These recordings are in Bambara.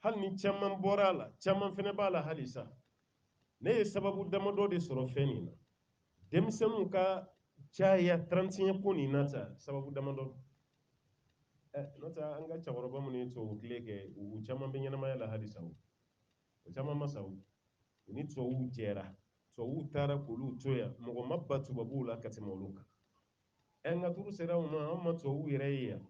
hali ni caman bɔra a la caman fɛnɛ b'a la halisa ne ye sababu damadɔ de sɔrɔ fɛn nin na denmisɛnninw ka caya 31 ko nin na sa sababu damadɔ eh, n'o tɛ an ka cɛkɔrɔba minnu ye tubabu tile kɛ u caman bɛ ɲɛnamaya la halisa o o caman ma sa o u ni tubabuw jɛra tubabuw taara k'olu to yan mɔgɔ ma ban tubabuw la ka tɛmɛ olu kan ɛ eh, nka tɔɔrɔ sera u ma an ma tubabuw yɛrɛ ye yan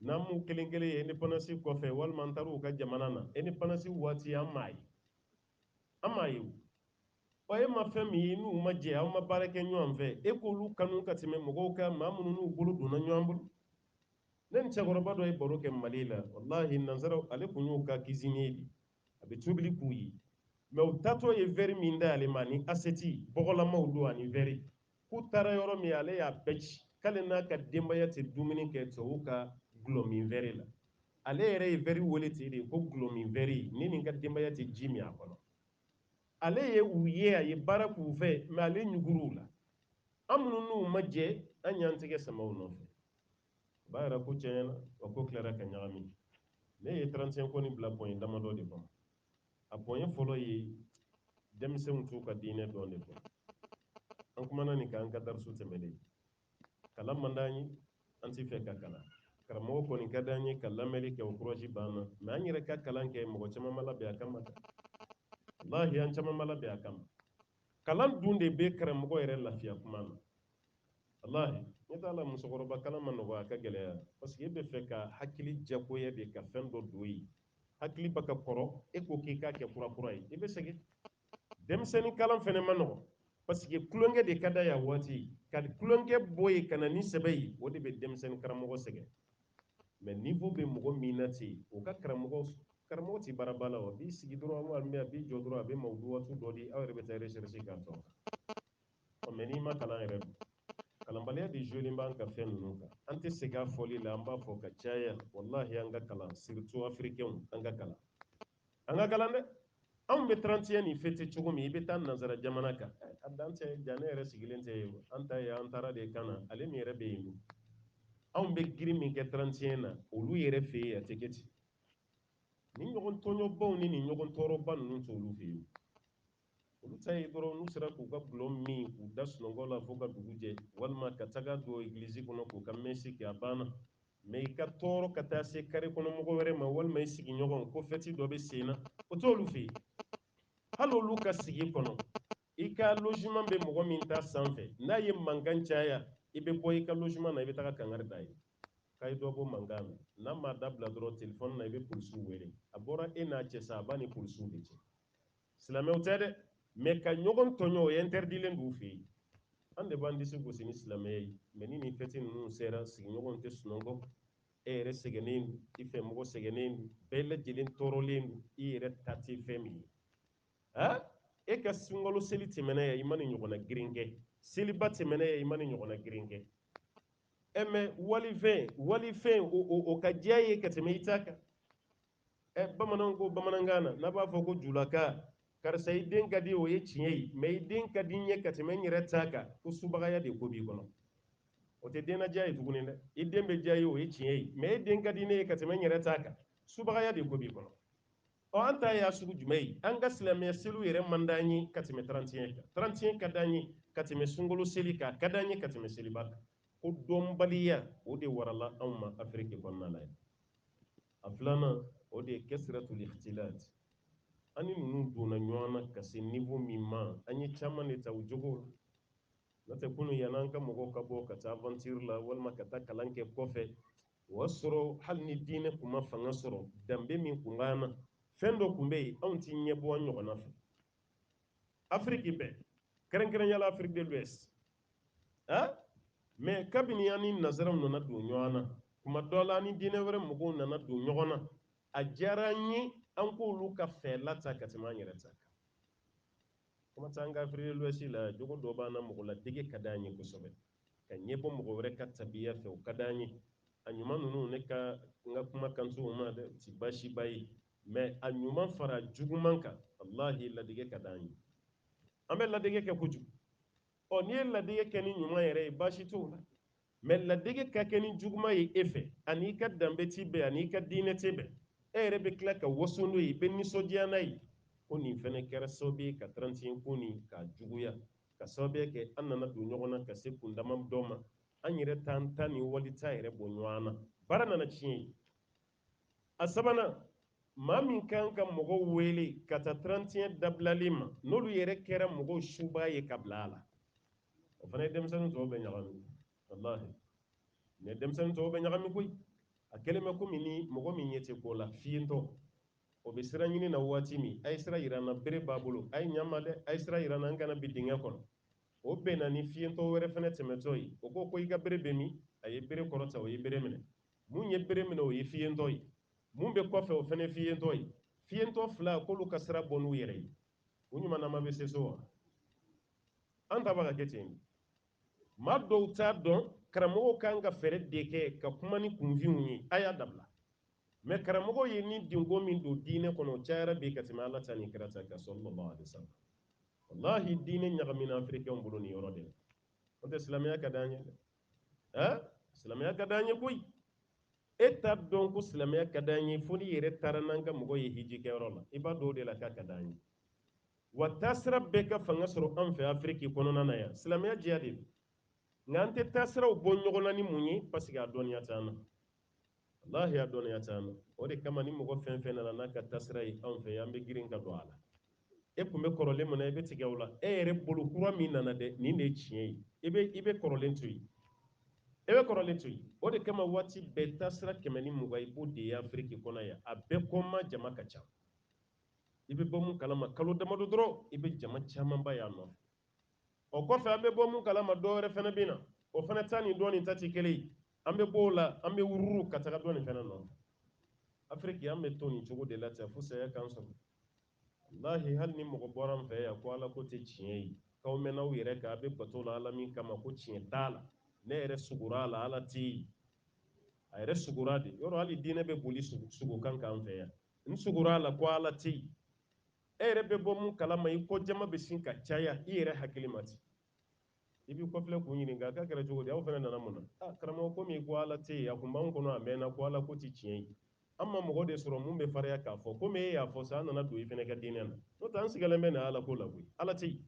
n'an m'u kelen kelen ye indépendance kɔfɛ walima an taar'u ka jamana na indépendance waati an m'a ye an m'a ye ɔ e ma fɛn min ye n'u ma jɛ aw ma baara kɛ ɲɔgɔn fɛ e k'olu kanu ka tɛmɛ mɔgɔw kan maa minnu n'u bolo donna ɲɔgɔn bolo ne ni cɛkɔrɔba dɔ ye baro kɛ mali la walahi nansara ale kun y'u ka cuisinier de a bɛ tobili k'u ye mais u taatɔ ye verre min d'ale ma ani assiette bɔgɔlamaw don ani verre k'u taara yɔrɔ min ale y'a bɛɛ ci k'ale n'a ka denbaya tɛ dumuni kɛ tubabu ka gulɔ min verre la ale yɛrɛ ye verre wele ten de ko gulɔ min verre ne ni n ka denbaya tɛ ji min a kɔnɔ ale ye u ye a ye baara k'u fɛ mais ale ɲugur'u la an minnu n'u ma jɛ an y'an tɛgɛ sama u nɔfɛ o b'a yira ko tiɲɛ na wa ko tilara ka ɲagami ne ye 31 ko nin bila point damadɔ de kɔnɔ a point fɔlɔ ye denmisɛnw t'u ka diinɛ dɔn de fɔ an kumana nin kan an ka darisu tɛmɛnen kalan man d'an ye an tɛ fɛ ka kalan karamɔgɔ kɔni ka d'an ye ka lamɛnni kɛ o courage b'an na mais an yɛrɛ ka kalan kɛ mɔgɔ caman ma labɛn a kama walahi an caman ma labɛn a kama kalan dun de bɛ karamɔgɔ yɛrɛ lafiya kuma na walahi ne t'a la musokɔrɔba kalan ma nɔgɔya a ka gɛlɛya parce que e bɛ fɛ ka hakili jagoya de ka fɛn dɔ don yen hakili bɛ ka kɔrɔ e ko k'i k'a kɛ kura kura ye i bɛ sɛgɛn denmisɛnnin kalan fɛnɛ ma nɔgɔ parce que kulonkɛ de ka d'a ye a waati ka kulonkɛ bɔ yen ka na ni sɛbɛ ye o de bɛ denmisɛnnin karamɔgɔ sɛgɛn mais niveau bɛ mɔgɔ min na ten o ka karamɔgɔ tɛ baaraba la wa a b'i sigi dɔrɔn a b'i jɔ dɔrɔn a bɛ mawuduwatu dɔ di aw yɛrɛ bɛ taa recherche k'a dɔn Ɔ mais n'i ma kalan yɛrɛ dun? Kalanbaliya de jouer len b'an ka fɛn ninnu kan. An tɛ segin a fɔli la, an b'a fɔ ka caya walahi an ka kalan surtout africains an ka kalan. An ka kalan dɛ! Anw bɛ 31 nin fêter cogo min, i bɛ taa nansara jamana kan, a dan tɛ, ja ne yɛrɛ sigilen tɛ yen, an ta ye an taara de ka na, ale min yɛrɛ bɛ yen dun? Anw bɛ girin min kɛ 31 na, olu yɛrɛ fɛ yen a tɛ kɛ ten. Nin ɲɔgɔn tɔɲɔbaw ni nin ɲɔgɔn tɔɔrɔba ninnu t'olu fɛ yen. olu ta ye dɔrɔn n'u sera k'u ka dɔlɔ min k'u da sunɔgɔ la fo ka dugu jɛ walima ka taga don egilizi kɔnɔ k'u ka mɛsi kɛ a banna mɛ i ka tɔɔrɔ ka taa se kare kɔnɔ mɔgɔ wɛrɛ ma walima i sigiɲɔgɔn ko fɛti dɔ bɛ sen na o t'olu fɛ yen hali olu ka sigi kɔnɔ i ka loziman bɛ mɔgɔ min ta sanfɛ n'a ye mankan caya i bɛ bɔ i ka loziman na i bɛ taga kangari d'a ye k'a ye dɔ bɔ mankan na n'a ma dabila dɔrɔn telefɔni na i bɛ polisiw wele a bɔra e n'a cɛ sa a b'a ni polisiw de cɛ silamɛw tɛ dɛ mɛ ka ɲɔgɔn tɔɲɔ o ɛntɛridilen d'u fɛ yen an de b'an disi gosi ni silamɛya ye mɛ ni nin fɛti ninnu sera sigiɲɔgɔnw tɛ sunɔgɔ e yɛrɛ sɛgɛnnen don i fɛ mɔgɔ sɛgɛnnen don bɛɛ lajɛlen tɔɔrɔlen don i yɛrɛ ta tɛ fɛn min ye ha e ka sunkalo seli tɛmɛna yan i ma nin ɲɔgɔnna girin kɛ seliba tɛmɛna yan i ma nin ɲɔgɔnna girin kɛ ɛ mɛ walifɛn walifɛn o ka diya ye ka tɛmɛ i ta kan ɛ bamananw ko bamanankan na n'a b'a fɔ ko julakan karisa i den ka di o ye tiɲɛ ye mɛ i den ka di n ye ka tɛmɛ n yɛrɛ ta kan ko subagaya de ko b'i kɔnɔ o tɛ den ladiya ye tuguni dɛ i den bɛ diya ye o ye tiɲɛ ye mɛ e den ka di ne ye ka tɛmɛ n yɛrɛ ta kan subagaya de ko b'i kɔnɔ ɔ an ta y'a sugu jumɛn ye an ka silamɛya seliw yɛrɛ man d'an ye ka tɛmɛ tarantiɲɛ kan tarantiɲɛ ka d'an ye ka tɛmɛ sunkalo seli kan ka d'an ye ka tɛmɛ seliba kan ko dɔnbaliya o de warala anw ma afiriki kɔnɔna la yan a filanan o de ye kasratul ikhtilat an ni ninnu donna ɲɔgɔn na ka se niveau min ma an ye caman de ta o jogo la n'o tɛ kunun yanni an ka mɔgɔw ka bɔ ka taa aventure la walima ka taa kalan kɛ kɔfɛ o y'a sɔrɔ hali ni diinɛ tun ma fanga sɔrɔ danbe min tun b'an na fɛn dɔ tun bɛ yen anw t'i ɲɛbɔ an ɲɔgɔnna fɛ afiriki bɛɛ kɛrɛnkɛrɛnyala afiriki de l'ouest mɛ kabini an ni nazaraw nana don ɲɔgɔn na tuma dɔ la an ni diinɛ wɛrɛ mɔgɔw nana don ɲɔgɔn na a diyara an ye an k'olu ka fɛla ta ka tɛmɛ an yɛrɛ ta kan kuma t'an ka afiriki de l'ouest la jogo dɔ b'an na mɔgɔ ladege ka di an ye kosɛbɛ ka ɲɛbɔ mɔgɔ wɛrɛ ka tabiya fɛ o ka di an ye a ɲuman ninnu ne ka n ka kuma kan t'o ma dɛ ti baasiba ye mɛ a ɲuman fara juguman kan wallahi ladege ka di an ye an bɛ ladege kɛ kojugu ɔ n'i ye ladege kɛ ni ɲuman yɛrɛ ye baasi t'o la mɛ ladege ka kɛ ni juguman ye e fɛ a n'i ka danbe ti bɛn a n'i ka diinɛ ti bɛn e yɛrɛ bɛ tila ka waso n'o ye i bɛ nisɔndiya n'a ye ko nin fɛnɛ kɛra sababu ye ka tarantiɲɛ ko nin k'a juguya ka sababuya kɛ an nana don ɲɔgɔn na ka se kundama dɔ ma an yɛrɛ t'an ta ni wali ta yɛrɛ bɔ ɲɔgɔn na baara nana tiɲɛ yen a sabanan maa min kan ka mɔgɔw wele ka taa trantiɲɛ dabilali ma n'olu yɛrɛ kɛra mɔgɔw suba ye ka bila a la o fana ye denmisɛnnin tɔw bɛɛ ɲagami walahi mɛ denmisɛnnin tɔw bɛɛ ɲagami koyi a kɛlen bɛ komi ni mɔgɔ min ɲɛ tɛ ko la fiyentɔ o bɛ sira ɲini na waati min a ye sira yira n na bere b'a bolo a ye ɲa n ma dɛ a ye sira yira n na n kana bin dingɛ kɔnɔ o bɛnna ni fiyentɔ wɛrɛ fɛnɛ tɛmɛtɔ ye o ko ko i ka bere bɛ min a ye bere kɔrɔta o ye bere minɛ mun ye bere minɛ o ye fiyentɔ ye mun bɛ kɔfɛ o fɛnɛ fiyentɔ ye fiyentɔ fila k'olu ka sira bɔ n'u yɛrɛ ye u ɲumanama bɛ se so wa an ta bɛ ka kɛ ten maa dɔw t'a dɔn karamɔgɔw kan ka fɛɛrɛ de kɛ ka kuma ni kunfinw ye a y'a dabila mɛ karamɔgɔ ye nidungɔ min don diinɛ kɔnɔ o cayara bi ka tɛmɛ ala ta ni kira ta kan sallallahu alaihi wasallam walahi diinɛ ɲagamina afirikɛnw bolo nin yɔrɔ de la o tɛ silamɛya ka di an ye dɛ eh? silamɛya ka d'an ye koyi e t'a dɔn ko silamɛya ka d'an ye fo n'i yɛrɛ taara n'an ka mɔgɔ ye hiji kɛyɔrɔ la i b'a dɔn o de la k'a ka d'an ye wa taasira bɛɛ ka fanga sɔrɔ an fɛ afiriki kɔnɔna na yan silamɛya diya de don nka an tɛ taasiraw bɔ ɲɔgɔn na ni mun ye paseke a dɔnniya t'an na lahi a dɔnniya t'an na o de kama ni mɔgɔ fɛn fɛn nana n'a ka taasira ye anw fɛ an bɛ girin ka don a la e kun bɛ kɔrɔlen mun na i bɛ tigɛ o la e yɛrɛ bolo kura min nana dɛ nin de ye tiɲɛ ye i bɛ i bɛ kɔrɔlen to yen e bɛ kɔrɔlen to yen o de kama waati bɛɛ taasira kɛmɛ ni mugan i b'o de ye afiriki kɔnɔ yan a bɛɛ kɔma jama ka ca i bɛ bɔ mun kalama kalo damadɔ dɔrɔn i bɛ jama camanba y'a nɔ o kɔfɛ an bɛ bɔ mun kalama dɔ wɛrɛ fana bɛ na o fana ta ni dɔ nin ta tɛ kelen ye an bɛ bɔ o la an bɛ wururu ka taga dɔ nin fana nɔ afiriki an bɛ to nin cogo de la ten fo saya k'an sɔrɔ walahi hali ni mɔgɔ bɔra an fɛ yan ko ala ko tɛ tiɲɛ ye k'aw mɛnna aw yɛrɛ kan a bɛ bato la ala min kama ko tiɲɛ t'a la ne yɛrɛ sugura a la ala tɛ yen a yɛrɛ sugura de yɔrɔ hali diinɛ bɛ boli sugu kan k'an fɛ yan n sugura a la ko ala tɛ yen e yɛrɛ bɛ bɔ mun kalama i kɔ jama bɛ sin ka caya i yɛrɛ hakili ma ten i b'i kɔfilɛ k'u ɲininka k'a kɛra cogo di aw fana nana mun na ah, karamɔgɔ komi ko ala tɛ yen a kun b'anw kɔnɔ a mɛnna ko ala ko tɛ tiɲɛ ye an ma mɔgɔ de sɔrɔ mun bɛ farinya k'a fɔ komi e y'a fɔ sa an nana don i fana ka diinɛ na n'o tɛ an sigalen bɛ na ala ko la koyi ala tɛ yen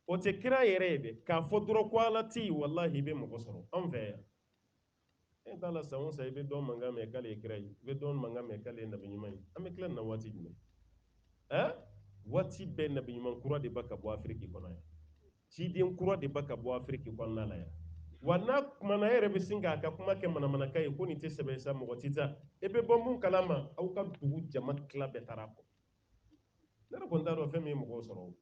o tɛ kira yɛrɛ ye dɛ k'a fɔ dɔrɔn ko ala tɛ yen walahi i bɛ mɔgɔ sɔrɔ anw fɛ yan e t'a la san o san i bɛ dɔ mankan mɛn k'ale ye kira ye i bɛ dɔ mankan mɛn k'ale ye nabi ɲuman ye an bɛ tila nin na waati jumɛn ɛn waati bɛɛ nabi ɲuman kura de bɛ ka bɔ afiriki kɔnɔ yan ciden kura de bɛ ka bɔ afiriki kɔnɔna la yan wa n'a kumana e yɛrɛ bɛ sin k'a ka kuma kɛ manamanakan ye ko nin tɛ sɛbɛ sa mɔgɔ tɛ taa e bɛ bɔ mun kalama aw ka dugu jama tila bɛɛ taara a kɔ ne yɛrɛ kɔni t'a dɔn fɛn min ye mɔgɔw sɔrɔ o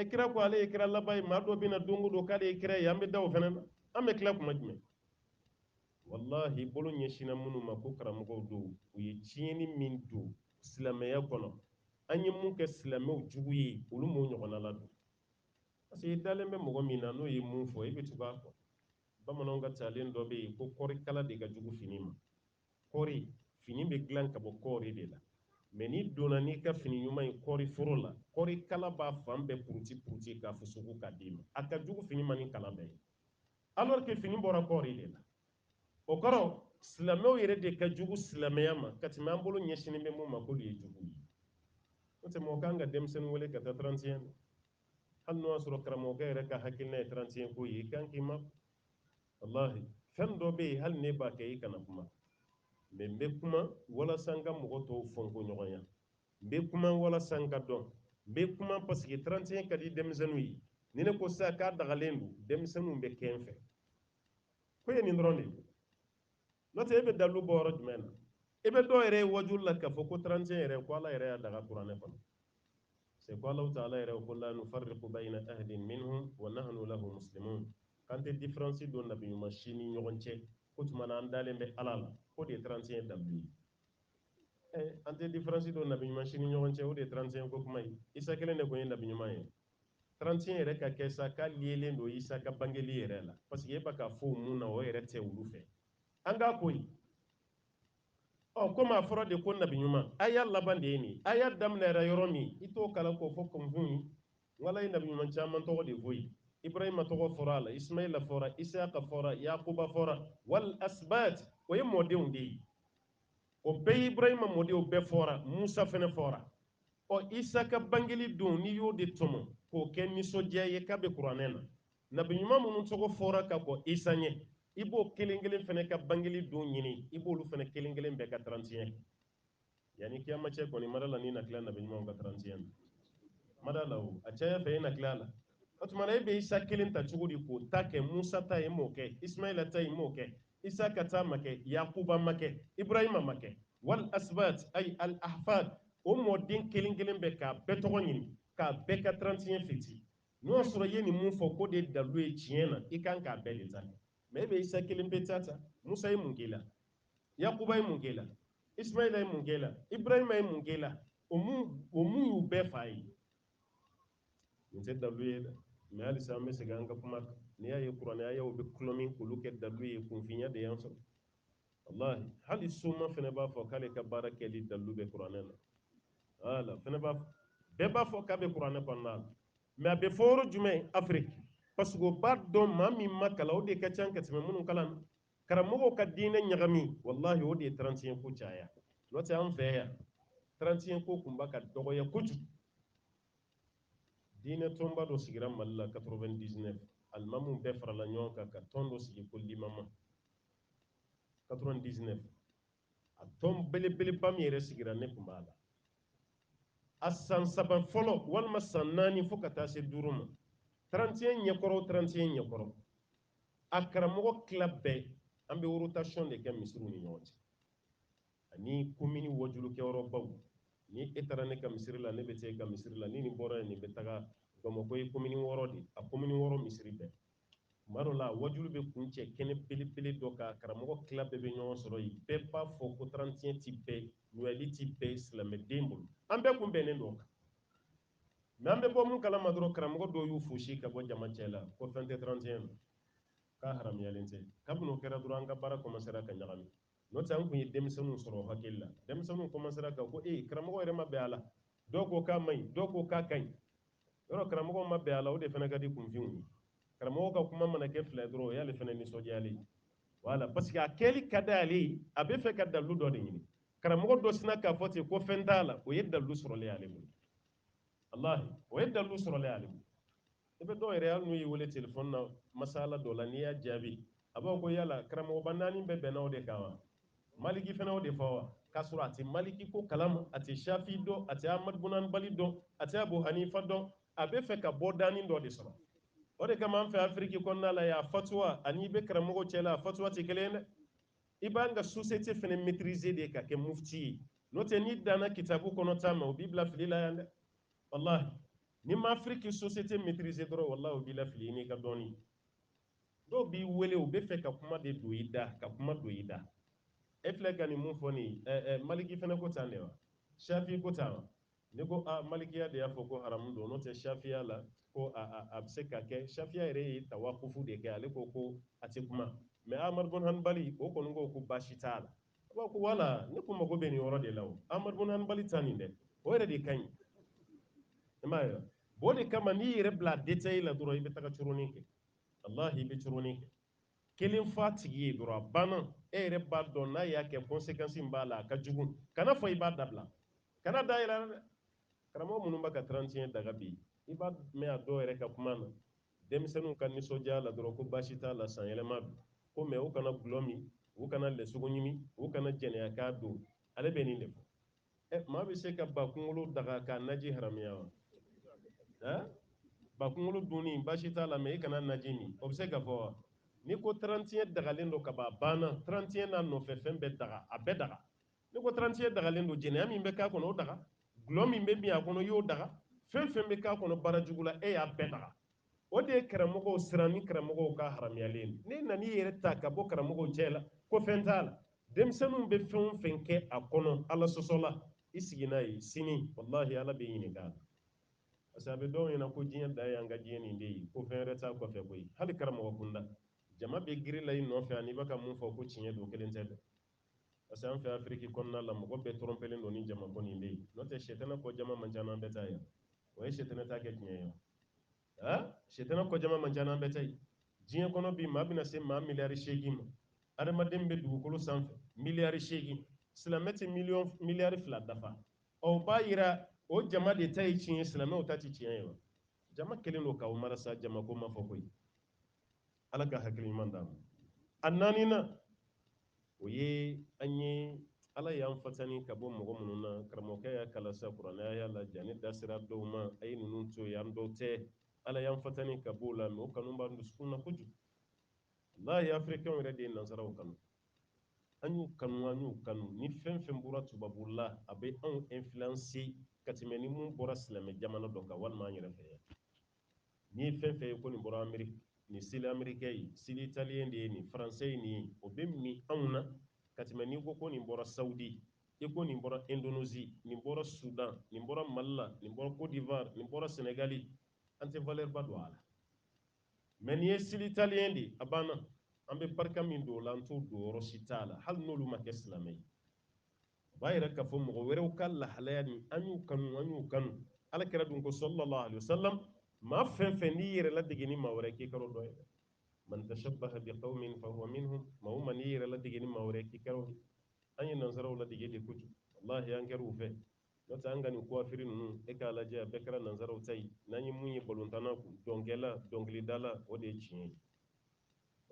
ɛ kira ko ale ye kira laban ye maa dɔ bɛ na don o don k'ale ye kira ye an bɛ da o fɛnɛ na an bɛ tila kuma jumɛn walahi bolo ɲɛsinna minnu ma ko karamɔgɔw don u ye tiɲɛni min don silamɛya kɔnɔ an ye mun kɛ silamɛw jugu ye olu m'o ɲɔgɔnna ladon parce que i dalen bɛ mɔgɔ min na n'o ye mun fɔ i bɛ tugu a kɔ bamananw ka talen dɔ bɛ yen ko kɔɔri kala de ka jugu fini ma kɔɔri fini bɛ dilan ka bɔ kɔɔri de la mɛ n'i donna n'i ka fini ɲuman ye kɔɔri foro la kɔɔri kala b'a fan bɛɛ puruti puruti k'a fusuku k'a d'i ma a ka jugu fini ma ni kala bɛɛ ye alors que fini bɔra kɔɔri de la o kɔrɔ silamɛw yɛrɛ de ka jugu silamɛya ma ka tɛmɛ an bolo ɲɛsinnen bɛ mun ma k'olu ye jugu ye n'o tɛ mɔgɔ kan ka denmisɛnnin wele ka taa 31 hali n'o y'a sɔrɔ karamɔgɔkɛ yɛrɛ ka hakilina ye 31 ko ye i kan k'i ma walahi fɛn dɔ bɛ yen hali ne b'a kɛ i kana kuma mɛ n bɛ kuma walasa n ka mɔgɔ tɔw fɔnko ɲɔgɔnya n bɛ kuma walasa n ka dɔn n bɛ kuma paseke trantiɲɛ ka di denmisɛnninw ye ni ne ko sisan k'a dagalen don denmisɛnninw bɛ kɛ n fɛ ko ye nin dɔrɔn de ye n'o tɛ e bɛ dalu bɔ yɔrɔ jumɛn na e bɛ dɔw yɛrɛ ye wajulu la k'a fɔ ko trantiɲɛ yɛrɛ ko ala yɛrɛ y'a daga kuranɛ kɔnɔ c'est ko alahu taala yɛrɛ ko la nufarriqu bayna ahadin minhum wa nahnu lahu muslimun k'an tɛ différence don nabi ɲuman si ni ɲɔgɔn cɛ k'o tuma na an dalen bɛ ala la o de ye trantiɲɛ dalu ye an tɛ différence don nabi ɲuman si ni ɲɔgɔn cɛ o de ye trantiɲɛ ko kuma ye isa kelen de tun ye nabi ɲuman ye 31 yɛrɛ ka kɛ sa k'a liyelen don Isa ka bangeli yɛrɛ la parce que e bɛ k'a fɔ o mun na o yɛrɛ tɛ olu fɛ an ka ko ye ɔ komi a fɔra de ko nabi ɲuman aya laban de ye nin aya daminɛra yɔrɔ min i t'o kalan k'o fɔ kunfin ye ala ye nabi ɲuman caman tɔgɔ de fɔ yen ibrahima tɔgɔ fɔra a la ismaila fɔra isaka fɔra yakuba fɔra wal asbat o ye mɔdenw de ye o bɛɛ ye ibrahima mɔdenw bɛɛ fɔra musa fɛnɛ fɔra Ɔ Isa ka bangeli don n'i y'o de tɔmɔ k'o kɛ nisɔndiya ye k'a bɛ kuranɛ na, nabi ɲuman minnu tɔgɔ fɔra ka kɔ Isa ɲɛ, i b'o kelen kelen fɛnɛ ka bangeli don ɲini, i b'olu fɛnɛ kelen kelen bɛɛ ka tarantiɲɛ kɛ. Yanni kiyama cɛ kɔni, n ma da a la n'i na tila nabi ɲumanw ka tarantiɲɛ na, n ma da a la o, a caya fɛ i na tila a la. O tuma na e bɛ Isa kelen ta cogo di k'o ta kɛ Musa ta ye, i m'o kɛ, Ismaila ta ye, i m'o kɛ, Isaka ta ma kɛ, Yakuba ma kɛ, Ibrahima ma kɛ. Wal asbat ay al ahfad o mɔden kelen kelen bɛɛ k'a bɛɛ tɔgɔ ɲini, k'a bɛɛ ka trantiɲɛ feti. N'o y'a sɔrɔ i ye nin mun fɔ k'o de ye dalu ye tiɲɛ na, i kan k'a bɛɛ de ta. Mais e bɛ Isa kelen pe ta ta. Musa ye mun kɛ i la? Yakuba ye mun kɛ i la? Ismaila ye mun kɛ i la? Ibrahima ye mun kɛ i la? O mun y'u bɛɛ fa ye. nin tɛ dalu ye dɛ mɛ halisa an bɛ segin an ka kuma kan n'i y'a ye kuranɛ ayaw bɛ kulɔ min k'olu kɛ dalu ye kunfinya de y'an sɔrɔ walahi hali soma fana b'a fɔ k'ale ka baara kɛli dalu bɛ kuranɛ la wala fana b'a fɔ bɛɛ b'a fɔ k'a bɛ kuranɛ kɔnɔna la mɛ a bɛ fɔ yɔrɔ jumɛn afiriki parce que o b'a dɔn maa min ma kalan o de ka ca ka tɛmɛ minnu kalanna karamɔgɔw ka diinɛ ɲagami walahi o de ye tarantiɲɛ ko caya n'o tɛ an fɛ yan tarantiɲɛ ko tun b'a ka dɔgɔya kojugu diinɛ tɔnba dɔ sigira mali la 99 alimamu bɛɛ farala ɲɔgɔn kan ka tɔn dɔ sigi ko limama 99 a tɔn belebeleba min yɛrɛ sigira ne tun b'a la a san saba fɔlɔ walima san naani fo ka taa se duuru ma 31 ɲɛkɔrɔ 31 ɲɛkɔrɔ a karamɔgɔ tila bɛɛ an bɛ rotation de kɛ misiriw ni ɲɔgɔn cɛ ani komini wajulukɛyɔrɔbaw ni e taara ne ka misiri la ne bɛ taa e ka misiri la ni nin bɔra yen nin bɛ taga bamakɔ ye komini wɔɔrɔ de a komini wɔɔrɔ misiri bɛɛ tuma dɔ la wajulu bɛ kuncɛ kɛnɛ belebele dɔ kan karamɔgɔ tila bɛɛ bɛ ɲɔgɔn sɔrɔ yen bɛɛ b'a fɔ ko tarantiyɛ ti bɛn nɔyali ti bɛn silamɛden bolo an bɛɛ kun bɛnnen don o kan mɛ an bɛ bɔ mun kalama dɔrɔn karamɔgɔ dɔw y'u fosi ka bɔ jama cɛ la ko fɛn tɛ tarantiyɛ na k'a haramuyalen tɛ kabini o kɛra dɔrɔn an ka baara kɔmasera ka ɲagami n'o tɛ an tun ye denmisɛnninw sɔrɔ hakili la denmisɛnninw kɔmansera ka ko karamɔgɔ yɛrɛ ma bɛn a la dɔw ko k'a man ɲi dɔw ko k'a ka ɲi yɔrɔ karamɔgɔ ma bɛn a la o de fana ka di kunfinw ye karamɔgɔ ka kuma mana kɛ fila dɔrɔn o y'ale fana nisɔndiyalen ye wala parce que a kɛli ka di ale ye a bɛ fɛ ka dalu dɔ de ɲini karamɔgɔ dɔ sina k'a fɔ ten ko fɛn t'a la o ye dalu sɔrɔlen y'ale bolo walahi o ye dalu sɔrɔlen y'ale bolo i bɛ dɔw yɛrɛ hali n'u y'i wele telefɔni na masala dɔ la n'i y'a jaabi a b'a ko yala karamɔgɔba naani bɛɛ bɛnna o de kan wa maliki fana o de fɔ wa k'a sɔrɔ a tɛ maliki ko kalama a tɛ shafi dɔn a tɛ amadu bun hanbali dɔn a tɛ abu hanifa dɔn a bɛ fɛ ka bɔdanin dɔ de sɔrɔ o de kama an fɛ afiriki kɔnɔna la yan fatuwa ani i bɛ karamɔgɔ cɛ la a fatuwa tɛ kelen ye dɛ i b'an ka société fana maîtriser de ka kɛ mufti ye n'o tɛ n'i danna kitabu kɔnɔ ta ma o b'i bila fili la yan dɛ walahi n'i ma afiriki société maîtriser dɔrɔn walahi o b'i lafili n'i ka dɔɔnin dɔw b'i wele u bɛ fɛ ka kuma de don i da ka kuma don i da e filɛ ka nin mun fɔ nin maliki fana ko tan de wa shafi ko tan wa ne ko aa malikiya de y'a fɔ ko haramu don n'o tɛ shafiya la ko a bɛ se ka kɛ shafiya yɛrɛ ye tawakufu de kɛ ale ko ko a tɛ kuma mɛ amadu bun hanbali o kɔni ko ko baasi t'a la ko ko wala ne ko mago bɛ nin yɔrɔ de la o amadu bun hanbali ta nin dɛ o yɛrɛ de ka ɲi i m'a ye o de kama n'i yɛrɛ bila détail la dɔrɔn i bɛ taga coronin kɛ walahi i bɛ coronin kɛ kelen fa tigi ye dɔrɔn a banna e yɛrɛ b'a dɔn n'a y'a kɛ kɔnsekansi b'a la a ka jugu kana fɔ i b'a dabila kana da yɛlɛ dɛ karamɔgɔ minnu bɛ ka trantiɲɛ daga bi i b'a mɛn a dɔw yɛrɛ ka kuma na Denmisɛnninw ka nisɔndiya la dɔrɔn ko baasi t'a la, sanyɛlɛma don. Ko mais u kana gulɔ min, u kana lɛsogo ɲimi, u kana jɛnɛya k'a don. Ale bɛ nin de fɔ. Ɛ maa bɛ se ka ba kunkolo daga k'a naji haramuya wa? Ɛ? Ba kunkolo dunni baasi t'a la mais i kana naji min, o bɛ se ka fɔ wa? N'i ko 31 dagalen don kaban, a banna. 31 n'a nɔfɛ fɛn bɛɛ daga, a bɛɛ daga. n'i ko trantiɲɛ dagalen don jɛnɛya min bɛ k'a kɔnɔ o daga gulɔ min bɛ min a kɔnɔ i y'o daga fɛn fɛn bɛ k'a kɔnɔ baara jugu la e y'a bɛɛ daga o de ye karamɔgɔw siran ni karamɔgɔw k'a haramuyalen n'e nan'i yɛrɛ ta ka bɔ karamɔgɔw cɛ la ko fɛn t'a la denmisɛnninw bɛ fɛn o fɛn kɛ a kɔnɔ ala sɔsɔ la i sigi n'a ye sini walahi ala b'i ɲininka a la parce que a bɛ dɔw ɲɛna ko diɲɛ dan ye an ka diɲɛ nin de ye ko fɛn wɛrɛ t'a kɔfɛ koyi hali karamɔgɔ kunda jama bɛ girin na i nɔfɛ an'i bɛ ka mun fɔ ko tiɲɛ don kelen tɛ dɛ parce que an fɛ afiriki kɔnɔna la mɔgɔ bɛɛ tɔrɔnpelen don ni jama ko nin de ye n'o tɛ sɛtɛnɛ kɔ jama man ca n'an bɛɛ ta ye o ye sɛtɛnɛ ta kɛ tiɲɛ ye a sɛtɛnɛ kɔ jama man ca n'an bɛɛ ta ye diɲɛ kɔnɔ bi maa bɛna se maa miliyari seegin ma adamaden bɛ dugukolo sanfɛ miliyari seegin silamɛ tɛ miliyari fila dafa o b'a yira o jama de ta ye tiɲɛ ye silamɛw ta tɛ tiɲɛ ye wa jama kɛlen don k'aw marasa jamako ma fɔ koyi ala ka hakili ɲuman d'an ma a naaninan o ye an ye ala y'an fatani ka bɔ mɔgɔ minnu na karamɔgɔkɛ y'a kalasa kuranɛ y'a la jani da sera dɔw ma a ye ninnu to yen an dɔw tɛ ala y'an fatani ka b'o la mɛ o kanu b'an dusukun na kojugu walahi afirikɛnw yɛrɛ de ye nansaraw kanu an y'u kanu an y'u kanu ni fɛn fɛn bɔra tubabu la a bɛ anw influence ka tɛmɛ ni mun bɔra silamɛ jamana dɔ kan walima an yɛrɛ fɛ yan n'i ye fɛn fɛn ye ko nin bɔra Ameriki nin style Amerikɛn ye style italiyɛn de ye nin faransɛ ye nin ye o bɛ min anw na ka tɛmɛ n'i ko ko nin bɔra sawudi i ko nin bɔra indonezi nin bɔra sudan nin bɔra mali la nin bɔra côte d'ivoire nin bɔra senegali an tɛ valeur ba don a la mɛ nin ye style italiyɛn de ye a banna an bɛ barika min don o la an t'o don yɔrɔ si t'a la hali n'olu ma kɛ silamɛ ye o b'a yira k'a fɔ mɔgɔ wɛrɛw ka lahalaya nin an y'u kanu an y'u kanu ala kira dun ko salalahu alayihi wasalam maa fɛn fɛn n'i yɛrɛ ladege ni maa wɛrɛ k'i kɛra dɔ ye dɛ man tashabbaha bi qawmin fa huwa minhum maa o maa n'i yɛrɛ ladege ni maa wɛrɛ k'i kɛra o ye an ye nansaraw ladege de kojugu walahi an kɛra u fɛ n'o tɛ an ka nin kuwafiri ninnu e k'a lajɛ a bɛɛ kɛra nansaraw ta ye n'an ye mun ye balontanna kun dɔnkɛla dɔnkilidala o de ye tiɲɛ ye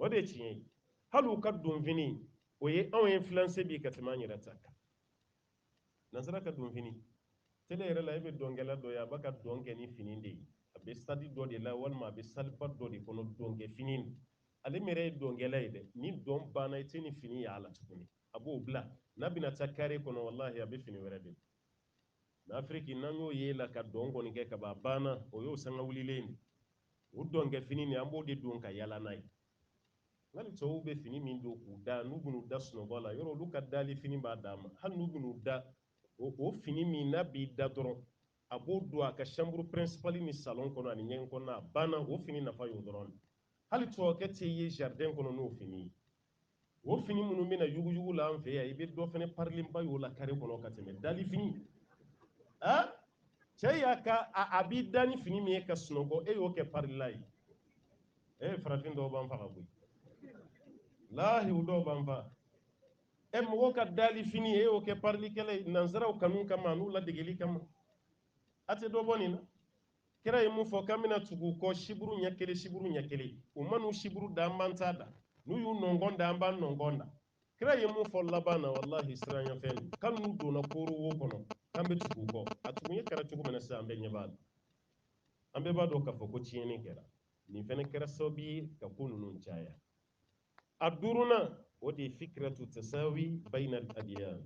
o de ye tiɲɛ ye hali u ka donfini o ye anw influencer bi ka tɛmɛ an yɛrɛ ta kan nansara ka donfini tele yɛrɛ la e bɛ dɔnkɛla dɔ ye a b'a ka dɔn kɛ ni fini de ye a bɛ stade dɔ de la walima a bɛ saliba dɔ de kɔnɔ dɔnkɛ fini ale yɛrɛ ye dɔnkɛla ye dɛ ni dɔn banna i tɛ nin fini y'a la tuguni a b'o bila n'a bɛna taa kare kɔnɔ walahi a bɛ fini wɛrɛ de mɛ afiriki n'an y'o ye la ka dɔn kɔni kɛ ka ban a banna o y'o sanga wulilen de o dɔnkɛ fini nin an b'o de don ka yala n'a ye hali tɔw bɛ fini min don k'u da n'u bɛn'u da sunɔgɔ la yɔrɔ olu ka dali fini b'a dama hali n'u bɛn'u da o o fini min n'a b'i da dɔrɔn a b'o don a ka chambre principale ni salon kɔnɔ ani ɲɛgɛn kɔnɔ a banna o fini nafa y'o dɔrɔn de hali tubabukɛ tɛ ye jardin kɔnɔ n'o fini ye o fini minnu bɛ na yuguyugu la an fɛ yan i bɛ dɔ fɛnɛ parilenba y'o la kare kɔnɔ ka tɛmɛ dalifini ah cɛ y'a ka a b'i da ni fini min ye ka sunɔgɔ e y'o kɛ parila ye e eh, farafin dɔw b'an faga koyi walahi u dɔw b'an faga e eh, mɔgɔw ka dali fini e y'o kɛ parilikɛlan ye nansaraw kanu kama n'u ladegeli kama a tɛ dɔ bɔ nin na kira ye mun fɔ k'an bɛna tugu u kɔ siburu ɲɛ kelen siburu ɲɛ kelen u man'u siburu da an b'an ta da n'u y'u nɔnkɔn da an b'an nɔnkɔn da kira ye mun fɔ laban na walahi siranyafɛn don k'ali n'u donna kooro wo kɔnɔ k'an bɛ tugu u kɔ a tugun ye kɛra cogo min na sisan an bɛɛ ɲɛ b'a la an bɛɛ b'a dɔn k'a fɔ ko tiɲɛni kɛra nin fɛnɛ kɛra sababu ye ka ko ninnu caya a duurunan o de ye fikiratu tasawi bayinal adiyan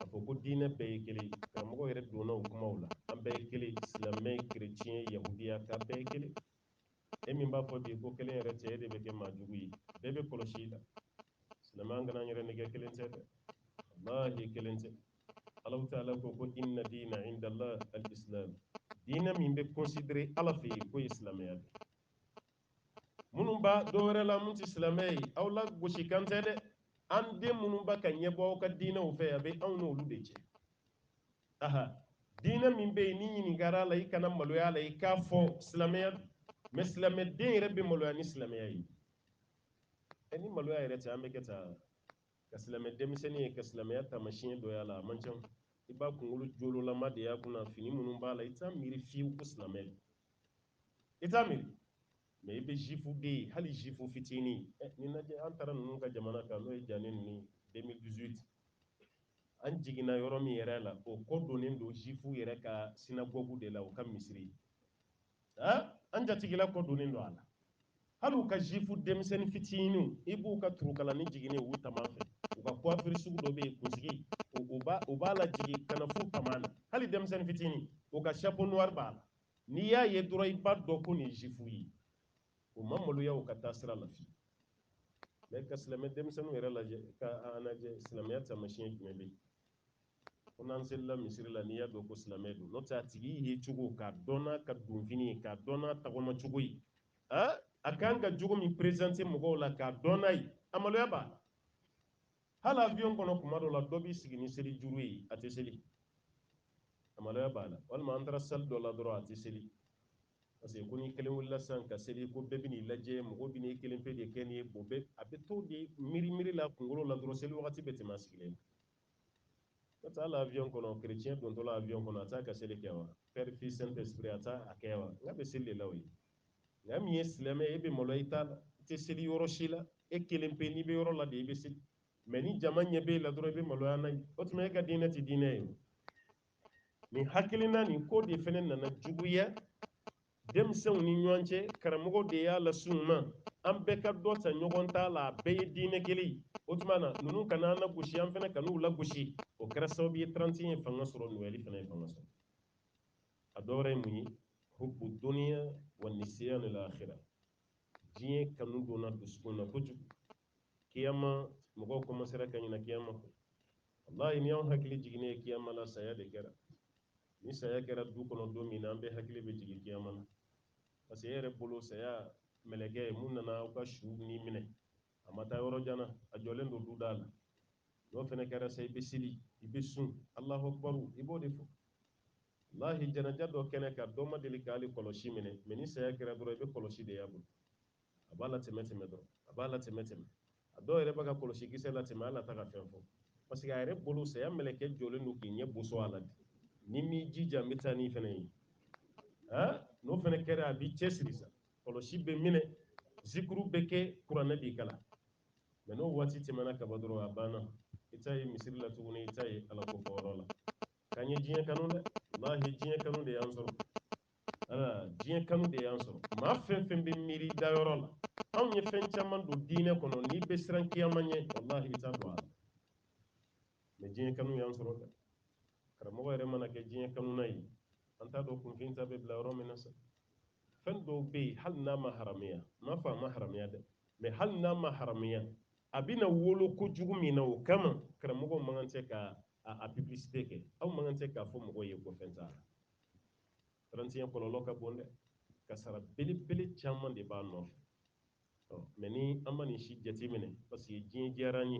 a fɔ ko diinɛ bɛɛ ye kelen ye karamɔgɔ yɛrɛ donna o kumaw la an bɛɛ ye kelen silamɛ kereciyɛn yahudiya k'a bɛɛ ye kelen e min b'a fɔ bi ko kelen yɛrɛ tɛ e de bɛ kɛ maa jugu ye bɛɛ bɛ kɔlɔsi i la silamɛ an kana an yɛrɛ nɛgɛn kelen tɛ dɛ walahi kelen tɛ alahu taala ko ko inna diina inda allah al islam diinɛ min bɛ considérer ala fɛ yen k'o ye silamɛya de minnu bɛ dɔ wɛrɛ la minnu tɛ silamɛ ye aw lagosi kan tɛ dɛ an den minnu bɛ ka ɲɛbɔ aw ka diinɛw fɛ a bɛ anw n'olu de cɛ aha diinɛ min bɛ yen ni ɲininkara a la i kana maloya a la i k'a fɔ silamɛya mɛ silamɛ den yɛrɛ bɛ maloya ni silamɛya ye ɛ ni maloya yɛrɛ tɛ an bɛ kɛ taa ka silamɛ denmisɛnnin ye ka silamɛya taamasiyɛn dɔ y'a la a man ca i b'a kunkolo jololama de y'a kunna fini minnu b'a la i t'a miiri fiyewu ko silamɛ i t'a miiri mɛ i bɛ zifu den ye hali zifu fitinin eh, nin lajɛ an taara ninnu ka jamana kan n'o ye jani ninnu 2018 an jiginna yɔrɔ min yɛrɛ la o kɔ donnen don zifu yɛrɛ ka sinagogu de la u ka misiri an jatigila kɔ donnen don a la hali u ka zifu denmisɛnnin fitininw i b'u ka turukalanin jiginnen u tama fɛ u ka coiffure sugu dɔ bɛ yen kunsigi u b'a lajigin ka na f'u tama na hali denmisɛnnin fitinin u ka chapeau noir b'a la n'i y'a ye dɔrɔn i b'a dɔn ko nin ye juif ye o ma maloya u ka taa sira la fiyewu mɛ ka silamɛ denmisɛnninw yɛrɛ lajɛ ka an lajɛ silamɛya taamasiyɛn jumɛn bɛ yen ko n'an selila misiri la n'i y'a dɔn ko silamɛ don n'o tɛ a tigi ye cogo k'a dɔn n'a ka donfini ye k'a dɔn n'a tagama cogo ye a kan ka jogo min présenter mɔgɔw la k'a dɔn n'a ye a maloya b'a la hali avion kɔnɔ kuma dɔ la dɔ b'i sigi ni seli juru ye a tɛ seli a maloya b'a la walima an taara salle dɔ la dɔrɔn a tɛ seli parce que ko n'i kelen wulila sisan ka seli ko bɛɛ bɛn'i lajɛ mɔgɔ bɛn'i kelen pe de kɛ nin ye bon bɛɛ a bɛ to de miiri miiri la kunkolo la dɔrɔn seli wagati bɛ tɛmɛ a sigilen ka taa la avion kɔnɔ chrétien dontɔla avion kɔnɔ a t'a ka seli kɛ wa père fils saint esprit a t'a a kɛ wa n k'a bɛ seli de la o ye nka min ye silamɛ e bɛ malo i ta la i tɛ seli yɔrɔ si la e kelen pe n'i bɛ yɔrɔ la de i bɛ seli mɛ ni jama ɲɛ bɛ e la dɔrɔn i bɛ maloya n'a ye o tuma e ka diinɛ tɛ diinɛ ye nin hakilina nin ko de fana nana juguya denmisɛnw ni ɲɔgɔn cɛ karamɔgɔ de y'a las'u ma an bɛɛ ka dɔ ta ɲɔgɔn ta la a bɛɛ ye diinɛ kelen ye o tuma na ninnu kana an lagosi an fana kan'u lagosi o kɛra sababu ye 31 ye fanga sɔrɔ noël fana ye fanga sɔrɔ a dɔ wɛrɛ ye mun ye hubbu duniya wa nisiyanu lakhira diɲɛ kanu donna dusukun na kojugu kiyama mɔgɔw kɔmansera ka ɲina kiyama kɔ wallahi n'i y'anw hakili jiginnen ye kiyama la saya de kɛra ni saya kɛra du kɔnɔ don min na an bɛɛ hakili bɛ jigin kiyama la parce que e yɛrɛ bolo saya mɛlɛkɛ min nana aw ka su ni minɛ a ma taa yɔrɔ jan na a jɔlen don duda la n'o fana kɛra sa i bɛ seli i bɛ sun alahu akibaru i b'o de fɔ wallahi janaja dɔ kɛnɛ kan dɔ ma deli k'ale kɔlɔsi minɛ mɛ ni saya kɛra dɔrɔn i bɛ kɔlɔsi de y'a bolo a b'a latɛmɛ tɛmɛ dɔrɔn a b'a latɛmɛ tɛmɛ a dɔw yɛrɛ b'a ka kɔlɔsi kisɛ latɛmɛ ala a tɛ ka fɛn fɔ parce que a yɛrɛ bolo saya mɛlɛkɛ jɔlen don k'i ɲɛ boso a la de n'i m'i jija n bɛ taa n'i fana ye n'o fana kɛra a b'i cɛsiri sa kɔlɔsi bɛ minɛ zikuru bɛ kɛ kuranɛ bɛ kalan mɛ n'o waati tɛmɛna ka ban dɔrɔn a banna i t'a ye misiri la tuguni i t'a ye ala ko fɔyɔrɔ la k'an ye diɲɛ kanu dɛ wallahi diɲɛ kanu de y'an sɔrɔ ala diɲɛ kanu de y'an sɔrɔ maa fɛn fɛn bɛ miiri dayɔrɔ la anw ye fɛn caman don diinɛ kɔnɔ n'i bɛ siran kiyama ɲɛ wallahi i t'a don a la mɛ diɲɛ kanu y'an sɔrɔ dɛ karamɔgɔ yɛrɛ mana kɛ diɲɛ kanuna ye an t'a dɔn kunfin ta bɛ bila yɔrɔ min na sa fɛn dɔw bɛ yen hali n'a ma haramuya n m'a fɔ a ma haramuya dɛ mɛ hali n'a ma haramuya a bɛna wolo kojugu min na o kama karamɔgɔw man kan tɛ ka a publicité kɛ aw man kan tɛ k'a fɔ mɔgɔw ye ko fɛn t'a la 31 kɔlɔlɔ ka bon dɛ kasara belebele caman de b'a nɔfɛ mɛ ni an ma nin si jateminɛ parce que diɲɛ diyara an ye